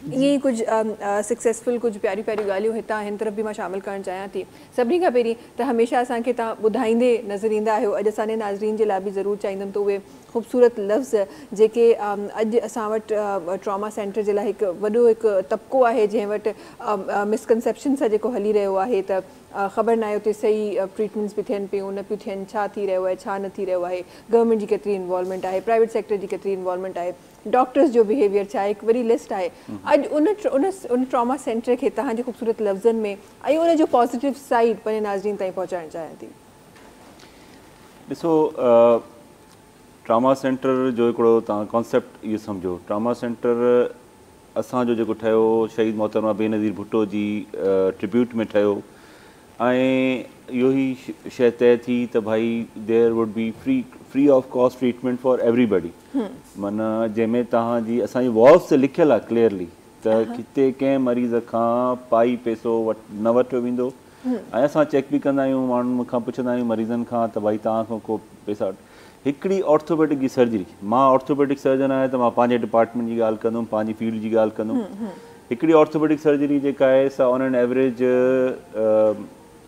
ائين ئي ڪجهه سڪسيسفل ڪجهه پياريون پياريون ڳالهيون هتان هن طرف به مان شامل ڪرڻ چاهيان ٿي. سڀني کان پهرين ته هميشه اسان کي تان ٻڌائيندي نظر ايندا آهيو اڄ اسان جي ناظرين جي لاء به ضرور چاهيندم ته اهي خوبصورت لفظ جيڪي اڄ اسان وٽ ٽراما سينٽر جي لاء هڪ وڏو هڪ طبقو آهي جنهن وٽ مس ڪنسيپشن سان جيڪو هلي رهيو آهي ته خبر ناهي اتي صحيح ٽريٽمينٽس به ٿين پيون نه پيون ٿين ڇا ٿي رهيو آهي ڇا نه ٿي رهيو آهي گورنمينٽ جي ڪيتري انوالومينٽ آهي پرائيويٽ سيڪٽر جي ڪيتري انوالومينٽ آهي ڊاڪٽرس جو بيهيويئر ڇا آهي هڪ وڏي لسٽ آهي اڄ ان ان ٽراما سينٽر کي توهان جي خوبصورت لفظن ۾ ۽ ان جو پازيٽو سائيڊ پنهنجي ناظرين تائين پهچائڻ چاهيان ٿي. ڏسو ٽراما سينٽر جو هڪڙو توهان ڪانسيپٽ اهو سمجهو ٽراما سينٽر اسان جو جيڪو ٺهيو شهيد محترمه بينظير ڀٽو جي ٽريبيوٽ ۾ ٺهيو ۽ اهو هي شيء طئي ٿي ته ڀائي there would be free free of cost treatment for everybody معنيٰ جنهن ۾ توهان جي اسان جي والوز تي لکيل آهي ڪليئرلي ته هتي ڪنهن مريض کان پائي پئسو نه وٺيو ويندو ۽ اسان چيڪ به ڪندا آهيون ماڻهن کان پڇندا آهيون مريضن کان ته ڀائي توهان کان ڪو پئسا هڪڙي آرٿوپيڊڪ جي سرجري مان آرٿوپيڊڪ سرجن آهيان ته مان پنهنجي ڊپارٽمينٽ جي ڳالهه ڪندم پنهنجي فيلڊ جي ڳالهه ڪندم هڪڙي آرٿوپيڊڪ سرجري جيڪا آهي سا آن اين ايوریج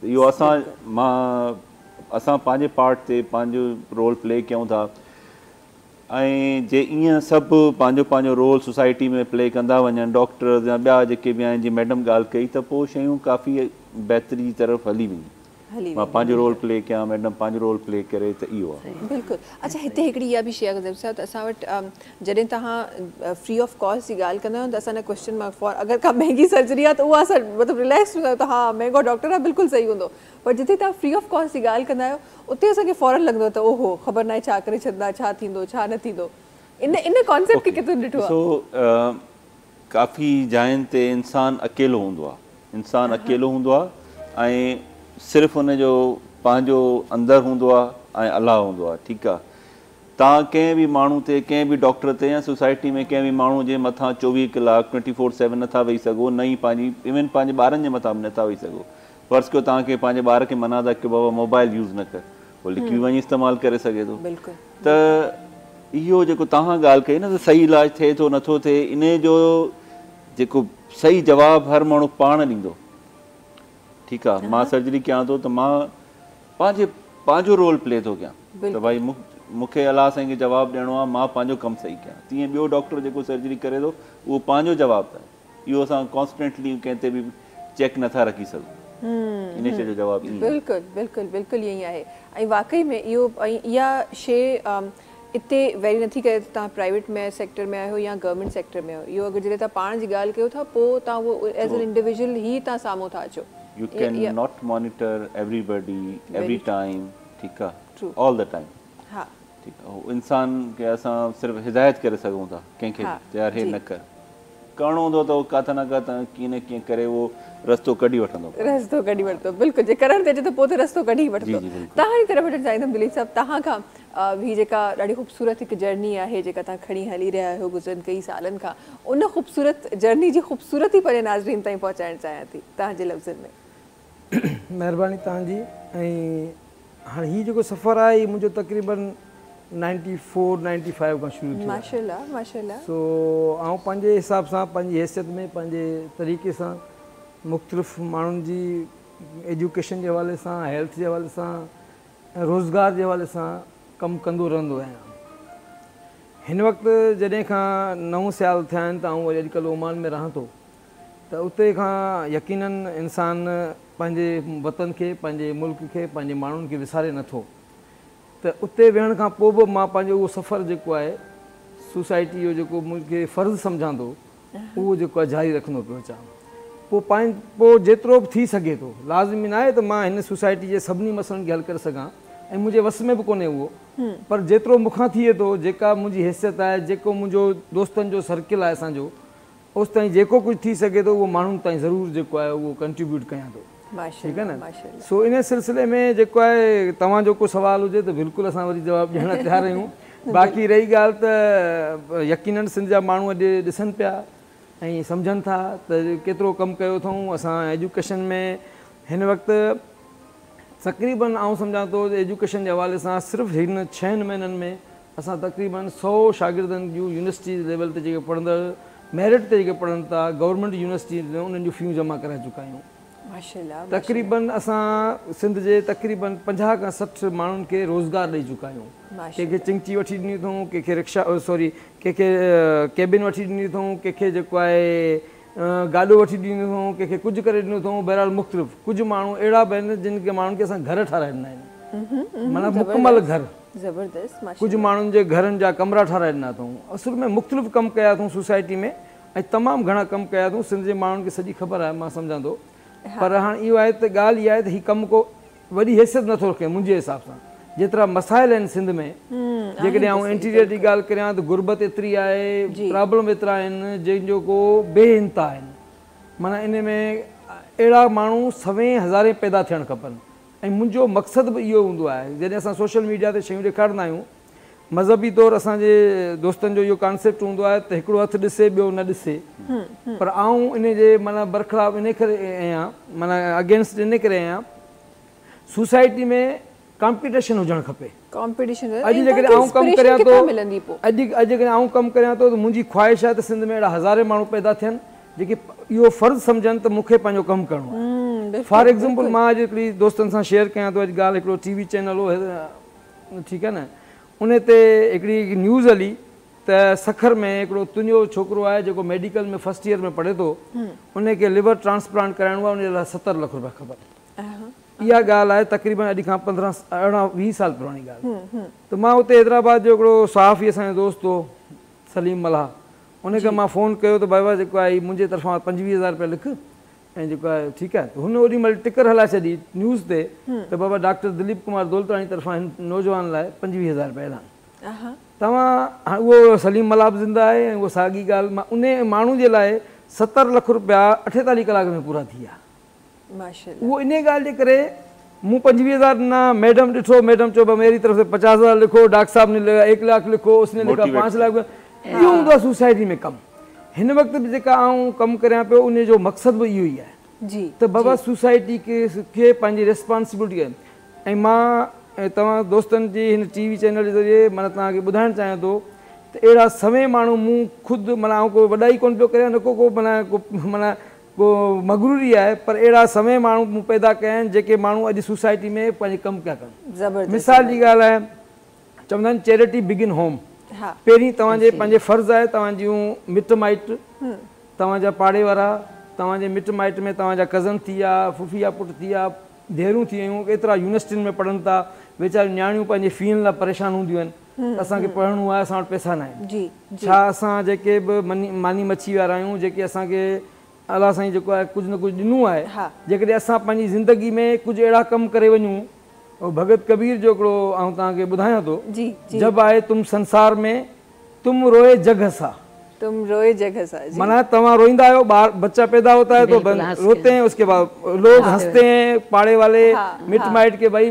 ته اهو اسان مان اسان پنهنجي پارٽ تي پنهنجو رول پلي ڪيون ٿا ۽ جي ايئن سڀ پنهنجو پنهنجو رول سوسائٽي ۾ پلي ڪندا وڃن ڊاڪٽرز يا ٻيا جيڪي به آهن جي ميڊم ڳالهه ڪئي ته پوء شيون ڪافي بهتري جي طرف هلي وينديون مان پنهنجو رول پلي ڪيان ميڊم پنهنجو رول پلي ڪري ته اهو آهي. بلڪل اڇا هتي هڪڙي اها به شي آهي ته اسان وٽ جڏهن توهان فري آف ڪاسٽ جي ڳالهه ڪندا آهيو ته اسان جا ڪويسچن مارڪ فار اگر ڪا مهنگي سرجري آهي ته اها اسان مطلب رليڪس ٿيندا آهيون ته ها مهنگو ڊاڪٽر آهي بلڪل صحيح هوندو پر جتي توهان فري آف ڪاسٽ جي ڳالهه ڪندا آهيو اتي اسان کي فورن لڳندو آهي ته او هو خبر ناهي ڇا ڪري ڇڏندا ڇا ٿيندو ڇا نه ٿيندو ان ان ڪانسيپٽ کي ڪٿي ڏٺو آهي. ڏسو ڪافي جاين تي انسان اڪيلو هوندو آهي انسان اڪيلو هوندو آهي ۽ صرف ان جو پنهنجو اندر هوندو آهي ۽ الله هوندو آهي ٺيڪ آهي توهان ڪنهن به ماڻهو تي، ڪنهن به ڊاڪٽر تي يا سوسائٽي ۾ ڪنهن به ماڻهو جي مٿان چوويهه ڪلاڪ، ٽوئنٽي فور سيون، نٿا ويهي سگهو، نه ئي پنهنجي ايون پنهنجي ٻارن جي مٿان به نٿا ويهي سگهو. فرض ڪيو توهان کي پنهنجي ٻار کي منع ٿا ڪيو بابا موبائل يوز نه ڪر، هو لڪي وڃي استعمال ڪري سگهي ٿو. ته اهو جيڪو توهان ڳالهه ڪئي نه ته صحيح علاج ٿئي ٿو نٿو ٿئي انهي جو جيڪو صحيح جواب هر ماڻهو پاڻ ڏيندو. ٺيڪ آ مان سرجري ڪيان ٿو ته مان پنهنجي پنهنجو رول پلي ٿو ڪيان ته ڀائي مون کي الله سائين کي جواب ڏيڻو آ مان پنهنجو ڪم صحيح ڪيان تيئن ٻيو ڊاڪٽر جيڪو سرجري ڪري ٿو اهو پنهنجو جواب ته اهو اسان ڪانسٽنٽلي ڪنهن تي به چيڪ نٿا رکي سگهون ان شي جو جواب ايئن بلڪل بلڪل بلڪل ايئن آهي ۽ واقعي ۾ اهو ۽ اها شي اتي ويري نٿي ڪري ته توهان پرائيويٽ ۾ سيڪٽر ۾ آهيو يا گورنمينٽ سيڪٽر ۾ آهيو اهو اگر جڏهن توهان پاڻ جي ڳالهه ڪيو ٿا پوء توهان اهو ايز اين انڊيويجول هي توهان سامهون ٿا اچو you can not monitor everybody every time ٺيڪ آهي آل دي ٽائيم ٺيڪ آهي انسان کي اسان صرف هدايت ڪري سگهون ٿا ڪنهن کي به ته يار هي نه ڪر. ڪرڻو هوندو ته هو ڪٿ نه ڪٿ ۽ ڪيئن نه ڪيئن ڪري اهو رستو ڪڍي وٺندو. رستو ڪڍي وٺندو بلڪل جي ڪرڻ تي اچي ته پوء ته رستو ڪڍي ئي وٺندو. توهان جي طرف وٺڻ چاهيندم دليپ صاحب توهان کان هي جيڪا ڏاڍي خوبصورت هڪ جرني آهي جيڪا توهان کڻي هلي رهيا آهيو گذريل ڪيئي سالن کان ان خوبصورت جرني جي خوبصورتي پنهنجي ناظرين تائين پهچائڻ چاهيان ٿي توهان جي لفظن ۾. مهرباني توهان جي ۽ هاڻ هي جيڪو سفر آهي هي منهنجو تقريبن نائنٽي فور نائنٽي فائيو کان شروع ٿيو ماشاء الله ماشاء الله سو آئون پنهنجي حساب سان پنهنجي حيثيت ۾ پنهنجي طريقي سان مختلف ماڻهن جي ايجوڪيشن جي حوالي سان هيلٿ جي حوالي سان ۽ روزگار جي حوالي سان ڪم ڪندو رهندو آهيان هن وقت جڏهن کان نو سيال ٿيا آهن ته آئون وري اڄڪلهه اومان ۾ رهان ٿو ته اتي کان يقيناً انسان پنهنجي وطن کي، پنهنجي ملڪ کي، پنهنجي ماڻهن کي وساري نه ٿو ته اتي ويهڻ کان پوء به مان پنهنجو اهو سفر جيڪو آهي سوسائٽي جو جيڪو مون کي فرض سمجهان ٿو اهو جيڪو آهي جاري رکندو پيو اچان پوء پنهن پوء جيترو به ٿي سگهي ٿو لازمي نه آهي ته مان هن سوسائٽي جي سڀني مسئلن کي حل ڪري سگهان ۽ منهنجي وس ۾ به ڪونهي اهو پر جيترو مون کان ٿئي ٿو جيڪا منهنجي حيثيت آهي جيڪو منهنجو دوستن جو سرڪل آهي اسان جو اوستائين جيڪو ڪجهه ٿي سگهي ٿو اهو ماڻهن تائين ضرور جيڪو آهي اهو ڪنٽريبيوٽ ڪيان ٿو ٺيڪ آهي نه سو انهي سلسلي ۾ جيڪو آهي توهان جو ڪو سوال هجي ته بلڪل اسان وري جواب ڏيڻ لاء تيار آهيون باقي رهي ڳالهه ته يقينن سنڌ جا ماڻهو اڄ ڏسن پيا ۽ سمجهن ٿا ته ڪيترو ڪم ڪيو اٿئون اسان ايجوڪيشن ۾ هن وقت تقريبن آئون سمجهان ٿو ته ايجوڪيشن جي حوالي سان صرف هن ڇهن مهينن ۾ اسان تقريبن سؤ شاگردن جون يونيورسٽي ليول تي جيڪي پڙهندڙ ميرٽ تي جيڪي پڙهن ٿا گورنمينٽ يونيورسٽي تي انهن جون فيون جمع ڪرائي چڪا آهيون. تقريبن اسان سنڌ جي تقريبن پنجاهه کان سٺ ماڻهن کي روزگار ڏئي چڪا آهيون. ڪنهن کي چنگچي وٺي ڏني اٿئون، ڪنهن کي رڪشا سوري ڪنهن کي ڪيبن وٺي ڏني اٿئون، ڪنهن کي جيڪو آهي گاڏو وٺي ڏني اٿئون، ڪنهن کي ڪجهه ڪري ڏنو اٿئون بهرحال مختلف ڪجهه ماڻهو اهڙا به آهن جن کي ماڻهن کي اسان گهر ٺاهرائي ڏنا آهن معنيٰ مڪمل گهر. زبردست ماشاء ڪجهه الله. ماڻهن جي گهرن جا ڪمرا ٺاهرائي ڏنا اٿئون. اصل ۾ مختلف ڪم ڪيا اٿئون سوسائٽي ۾ ۽ تمام گهڻا ڪم ڪيا اٿئون سنڌ جي ماڻهن کي سڄي خبر آهي مان سمجهان ٿو پر هاڻ اهو آهي ته ڳالهه اها آهي ته هي ڪم ڪو وڏي حيثيت نٿو رکي منهنجي حساب سان جيترا مسائل آهن سنڌ ۾ جيڪڏهن آئون انٽيريئر جي ڳالهه ڪريان ته غربت ايتري آهي پرابلم ايترا آهن جن جو ڪو بي انتها آهن معنيٰ ان ۾ اهڙا ماڻهو سوين هزارين پيدا ٿيڻ کپن. ۽ منهنجو مقصد به اهو هوندو آهي جڏهن اسان سوشل ميڊيا تي شيون ڏيکارندا آهيون مذهبي طور اسان جي دوستن جو اهو ڪانسيپٽ هوندو آهي ته هڪڙو هٿ ڏسي ٻيو نه ڏسي پر آئون ان جي معنيٰ برخلاف ان ڪري اهيان معنيٰ اگينسٽ ان ڪري اهيان سوسائٽي ۾ ڪامپيٽيشن هجڻ کپي. اڄ جيڪڏهن آئون ڪم ڪريان ٿو اڄ جيڪڏهن آئون ڪم ڪريان ٿو ته منهنجي خواهش آهي ته سنڌ ۾ اهڙا هزارين ماڻهو پيدا ٿين جيڪي اهو فرض سمجهن ته مون کي پنهنجو ڪم ڪرڻو آهي فار ايگزامپل مان اڄ هڪڙي دوستن سان شيئر ڪيان ٿو اڄ ڳالهه هڪڙو ٽي وي چينل هو ٺيڪ آهي نه ان تي هڪڙي نيوز هلي ته سکر ۾ هڪڙو تنهنجو ڇوڪرو آهي جيڪو ميڊيڪل ۾ فرسٽ ايئر ۾ پڙهي ٿو ان کي ليور ٽرانسپلانٽ ڪرائڻو آهي ان لاء ستر لک روپيا کپن اها ڳالهه آهي تقريبن اڄ کان پندرهن ارڙهن ويهه سال پراڻي ڳالهه ته مان اتي حيدرآباد جو هڪڙو صحافي اسان جو دوست هو سليم ملاح ان کي مان فون ڪيو ته بابا جيڪو آهي منهنجي طرفان پنجويهه هزار رپيا لک ۽ جيڪو آهي ٺيڪ آهي ته هن اوڏي مهل ٽڪر هلائي ڇڏي نيوز تي ته بابا ڊاڪٽر دليپ ڪمار دولتاڻي طرفان هن نوجوان لاء پنجويهه هزار رپيا اعلان توهان هاڻ اهو سليم ملاح به زنده آهي ۽ اها ساڳي ڳالهه مان انهي ماڻهو جي لاء ستر لک رپيا اٺيتاليهه ڪلاڪ ۾ پورا ٿي ويا اهو انهيء ڳالهه جي ڪري مون پنجويهه هزار نه ميڊم ڏٺو، ميڊم چيو ڀاء ميري طرف سي پچاس هزار لکو، ڊاڪٽر صاحب ني لکا ايڪ لاک لکو، اس ني لکا پانچ لاک لکو، اهو هوندو آهي سوسائٽي ۾ ڪم. هن وقت به جيڪا آئون ڪم ڪريان پيو انهيء جو مقصد به اهو ئي آهي ته بابا سوسائٽي کي پنهنجي ريسپانسبلٽي ۽ مان توهان دوستن جي هن ٽي وي چينل جي ذريعي معنيٰ توهان کي ٻڌائڻ چاهيان ٿو ته اهڙا سوين ماڻهو مون خود معنيٰ آئون ڪو وڏائي ڪونه پيو ڪريان نه ڪو ڪو معنيٰ ڪو معنيٰ ڪو مغروري آهي پر اهڙا سوين ماڻهو مون پيدا ڪيا آهن جيڪي ماڻهو اڄ سوسائٽي ۾ پنهنجي ڪم پيا ڪن مثال جي ڳالهه آهي چوندا آهن چيرٽي بگن هوم پهرين توهان جي پنهنجي فرض آهي توهان جون مٽ مائٽ توهان جا پاڙي وارا توهان جي مٽ مائٽ ۾ توهان جا ڪزن ٿي ويا ڦڦي جا پٽ ٿي ويا ڌيئرون ٿي ويون ايترا يونيورسٽين ۾ پڙهن ٿا ويچاريون نياڻيون پنهنجي فين لاء پريشان هونديون آهن اسان کي پڙهڻو آهي، اسان وٽ پئسا ناهن. ڇا اسان جيڪي به ماني مڇي وارا آهيون، جيڪي اسان کي الله سائين جيڪو آهي ڪجهه نه ڪجهه ڏنو آهي، جيڪڏهن اسان پنهنجي زندگي ۾ ڪجهه اهڙا ڪم ڪري وڃون، ڀڳت ڪبير جو هڪڙو آئون توهان کي ٻڌايان ٿو، جب آئي تم سنسار مين، تم روئي جڳ هسا. تم روئي جڳ هسا. معنيٰ توهان روئيندا آهيو، ٻار بچا پيدا هوتا هي تو روتي هين، اس ڪي بعد لوگ هنسٽي هين، پاڙي والي مٽ مائٽ ڪي ڀائي